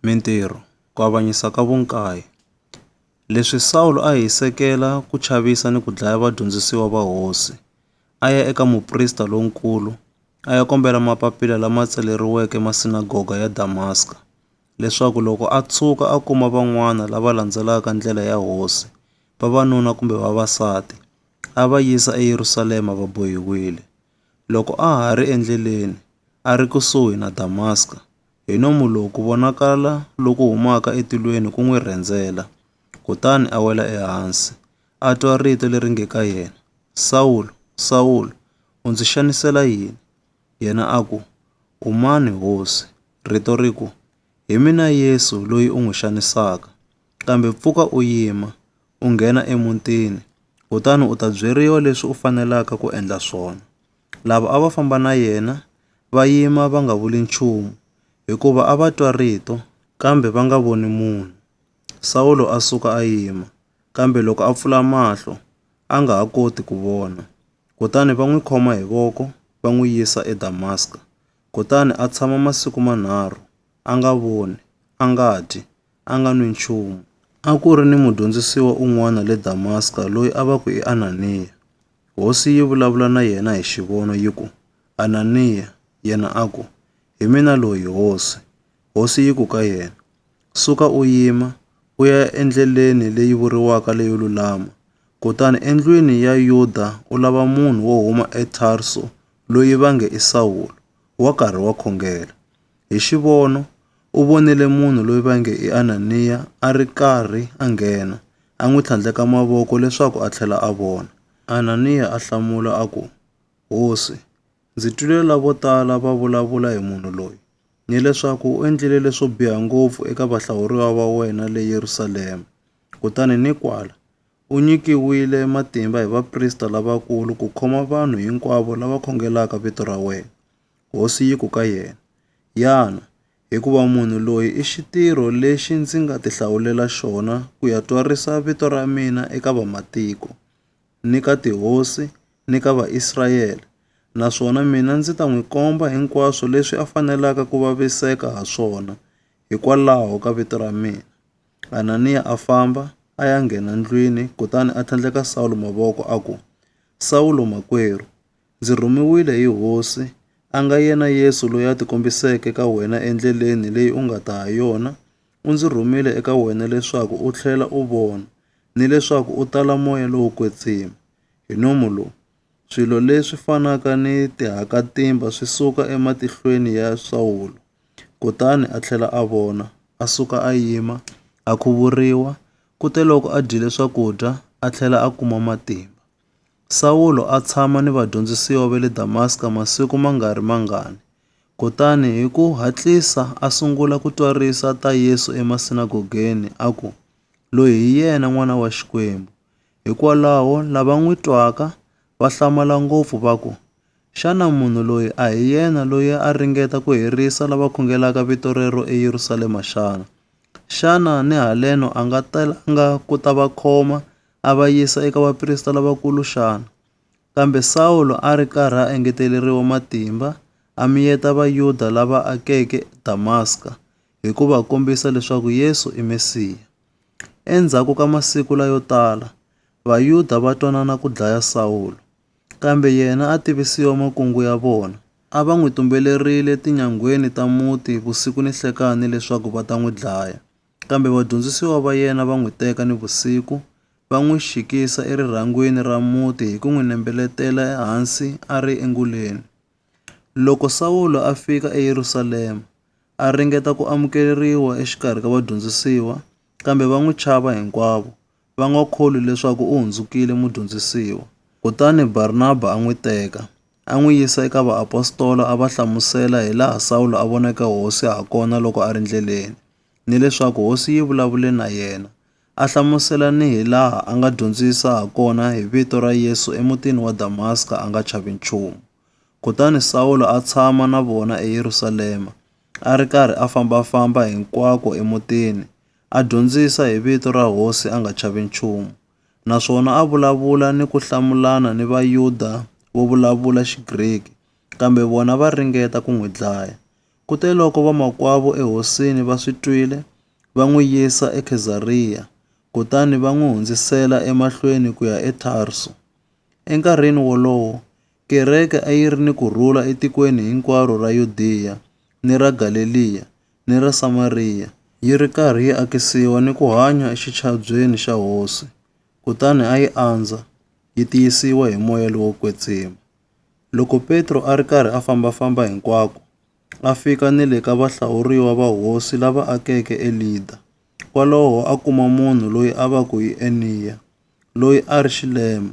Mintirho, ku avanyisa ka vunkaye. Leswi Sawulo a hi sekela ku chavisa ni ku dlaya vadyondzisiwa va hosi. A ya eka muprista lonkulu a ya kombela mapapila lama tsaleriweke masinagoga ya Damaska leswaku loko a tshuka a kuma van'wana lava landzelaka ndlela ya hosi, vavanuna kumbe vavasati, a va yisa eYerusalema va bohiwile. Loko a ha ri endleleni a ri kusuhi na Damaska, hi nomu lowu ku vonakala loku humaka etilweni ku n'wi rhendzela, kutani a wela ehansi, a twa rito leri nge ka yena, Sawulo, Sawulo, u ndzi xanisela yini? Yena a ku, U mani, Hosi? Rito ri ku, Hi mina Yesu loyi u n'wi xanisaka. Kambe pfuka u yima, u nghena emutini, kutani u ta byeriwa leswi u fanelaka ku endla swona. Lava a va famba na yena va yima va nga vuli nchumu, hikuva a va twa rito kambe va nga voni munhu. Sawulo a suka a yima, kambe loko a pfula mahlo a nga ha koti ku vona. Kutani va n'wi khoma hi voko va n'wi yisa eDamaska. Kutani a tshama masiku manharhu a nga voni, a nga dyi, a nga nwi nchumu. A ku ri ni mudyondzisiwa un'wana le Damaska loyi a va ku i Ananiya. Hosi yi vulavula na yena hi xivono yi ku, Ananiya! Yena a ku, Hi mina loyi, Hosi. Hosi yi ku ka yena, Suka u yima, u ya endleleni leyi vuriwaka leyo lulama, kutani endlwini ya Yuda u lava munhu wo huma eTarso loyi va nge i Sawulo, wa karhi wa khongela. Hi xivono u vonile munhu loyi va nge i Ananiya a ri karhi a nghena, a n'wi tlhandleka mavoko leswaku a tlhela a vona. Ananiya a hlamula a ku, Hosi, ndzi twile lavo tala va vulavula hi munhu loyi, ni leswaku u endlile leswo biha ngopfu eka vahlawuriwa va wena le Yerusalema. Kutani ni kwala, u nyikiwile matimba hi vaprista lavakulu ku khoma vanhu hinkwavo lava khongelaka vito ra wena. Hosi yi ku ka yena, Yana, hikuva munhu loyi i xitirho lexi ndzi nga tihlawulela xona ku ya twarisa vito ra mina eka vamatiko, ni ka tihosi, ni ka Vaisrayele, naswona mina ndzi ta n'wi komba hinkwaswo leswi a fanelaka ku vaviseka ha swona hikwalaho ka vito ra mina. Ananiya a famba a ya nghena ndlwini kutani a tlhandleka Sawulo mavoko a ku, Sawulo makwerhu! Ndzi rhumiwile hi Hosi, a nga yena Yesu loyi a tikombiseke ka wena endleleni leyi u nga ta ha yona, u ndzi rhumile eka wena leswaku u tlhela u vona, ni leswaku u tala moya lowo kwetsima. Hi nomu lowu, swilo leswi fanaka ni tihakatimba swi suka ematihlweni ya Sawulo, kutani a tlhela a vona, a suka a yima, a khuvuriwa, kuteloko a dyile swakudya, a tlhela a kuma matimba. Sawulo a tshama ni vadyondzisiwa va le Damaska masiku ma nga ri mangani, kutani hi ku hatlisa a sungula ku twa risa ta Yesu emasinagogeni a ku, Loyi hi yena N'wana wa Xikwembu. Hikwalaho lava n'wi twaka va hlamala ngopfu va ku, Xana munhu loyi a hi yena loyi a ringeta ku herisa lava khongelaka vito rero eYerusalema xana? Xana ni haleno a nga telanga ku ta va khoma a va yisa eka vaprista lavakulu xana? Kambe Sawulo a ri karhi a engeteleriwa matimba a miyeta Vayuda lava akeke Damaska hi ku va kombisa leswaku Yesu i Mesiya. Endzhaku ka masiku layo tala, Vayuda va twanana ku dlaya Sawulo, kambe yena a tivisiwa makungu ya vona. A va n'wi tumbelerile tinyangweni ta muti vusiku ni nhlekani leswaku va ta n'wi dlaya. Kambe vadyondzisiwa va yena va n'wi teka nivusiku, va n'wi xikisa erirhangwini ra muti hi ku n'wi nembeletela ehansi a ri enguleni. Loko Sawulo a fika eYerusalema, a ringeta ku amukeleriwa exikarhi ka vadyondzisiwa, kambe va n'wi chava hinkwavo, va nga kholwi leswaku u hundzukile mudyondzisiwa. Kutani Barnaba a n'wi teka, a n'wi yisa eka vaapostola a va hlamusela hilaha Sawulo a voneke Hosi hakona loko a ri ndleleni. ni leswaku hosi yi vulavule na yena. A hlamusela ni hi laha a nga dyondzisa ha kona hi vito ra Yesu emutini wa Damaska a nga chavi nchumu. Kutani Sawulo a tshama na vona eYerusalema, a ri karhi a famba-famba hinkwako emutini, a dyondzisa hi vito ra hosi a nga chavi nchumu, naswona a vulavula ni ku hlamulana ni Vayuda vo vulavula Xigriki, kambe vona va ringeta ku n'wi dlaya. Kuteloko vamakwavo ehosini va swi twile, va n'wi yisa eKhezariya, kutani va n'wi hundzisela emahlweni ku ya eTharsu. Enkarhini wolowo, kereke a yi ri ni ku rhula etikweni hinkwaro ra Yudiya, ni ra Galeliya, ni ra Samariya, yi ri karhi yi akisiwa ni ku hanya exichabyeni xa Hosi, kutani a yi andza, yi tiyisiwa hi moya lowo kwetsima. Loko Petro a ri karhi a famba-famba hinkwako, a fika ni le ka vahlawuriwa va hosi lava akeke eLida. Kwalaho a kuma munhu loyi a va ku i Eniya, loyi a ri xilema.